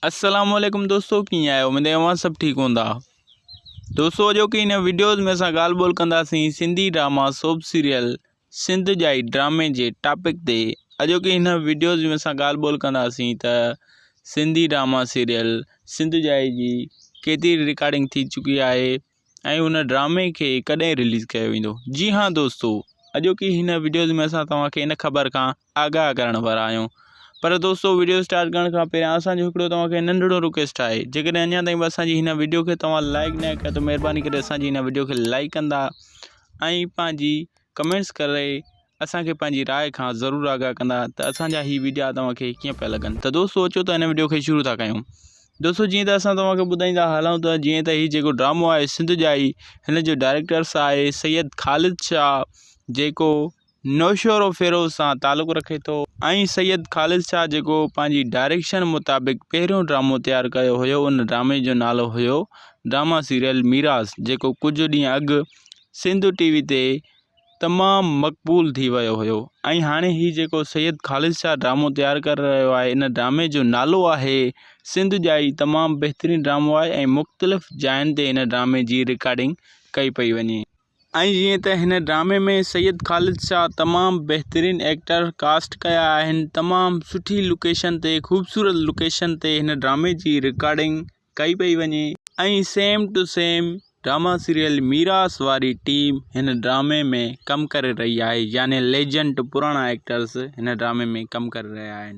السلام عليڪم دوستو ڪيئن آهيو اميد آهي اوهان سڀ ٺيڪ هوندا دوستو اڄوڪي هن ويڊيوز ۾ اسان ڳالهه ٻولهه ڪنداسين Sindhi drama soap serial Sindh جائي ڊرامي جي ٽاپڪ تي اڄوڪي هن ويڊيوز ۾ اسان ڳالهه ٻولهه ڪنداسين ته سنڌي ڊراما سيريل سنڌ جائي جي ڪيتري رڪارڊنگ ٿي چڪي آهي ۽ ان ڊرامي کي ڪڏهن رليز ڪيو ويندو جي ها دوستو اڄوڪي هن وڊيوز ۾ اسان توهان کي ان خبر کان آگاهه ڪرڻ وارا آهيون پر دوستو وڊيو اسٽارٽ ڪرڻ کان پهريان اسان جو هڪڙو توهان کي ننڍڙو رڪويسٽ آهي جيڪڏهن اڃا تائين به اسان جي هن وڊيو کي توهان لائڪ نه ڪيو ته مهرباني ڪري اسان جي هن وڊيو کي لائڪ ڪندا ۽ پنهنجي ڪمينٽس ڪري اسان کي پنهنجي راء کان ضرور آگاهه ڪندا ته اسان جا هي وڊيا توهان کي ڪيئن پيا لڳن ته دوستو اچو ته هن وڊيو کي شروع ٿا ڪيون دوستو جيئن ته اسان توهان کي ٻڌائيندا هلون ته جيئن ته هي جيڪو ڊرامو آهي سنڌ جائي هن جو ڊائريڪٽرس آهي سيد خالد شاهه جيڪو نوشور و فيروز سان تعلق رکي ٿو ۽ سيد خالد شاهه جيڪو پنهنجي ڊائريڪشن مطابق پهريون ڊرامو تيار ڪيو هيو ان ڊرامي جو نالو هيو ڊراما سيريل ميراث جيڪو ڪجهه ڏينهن اڳ سنڌ ٽي وي تي تمام مقبول ٿي ويو هيو ۽ هاڻي هي جيڪو سيد خالد شاهه ڊرامو تيار ڪري رهيو آهي ان ڊرامي جو نالو آهي سنڌ ڄائي تمام بهترين ڊرامو آهي ۽ مختلف جاين تي هن ڊرامي جي رڪارڊنگ ڪئي پئي وڃي ۽ جيئن ته هن ڊرامي ۾ سيد خالد شاهه تمام بهترين ايڪٽر ڪاسٽ ڪيا آهن تمام سٺي لوڪيشن تي خوبصورت لوڪيشن تي هن ڊرامي جي رڪارڊنگ ڪئي پئي وڃي ۽ same to same drama serial Meeras واري ٽيم هن ڊرامي ۾ ڪم ڪري رهي آهي يعني ليجنڊ پراڻا ايڪٽرز هن ڊرامي ۾ ڪم ڪري رهيا آهن.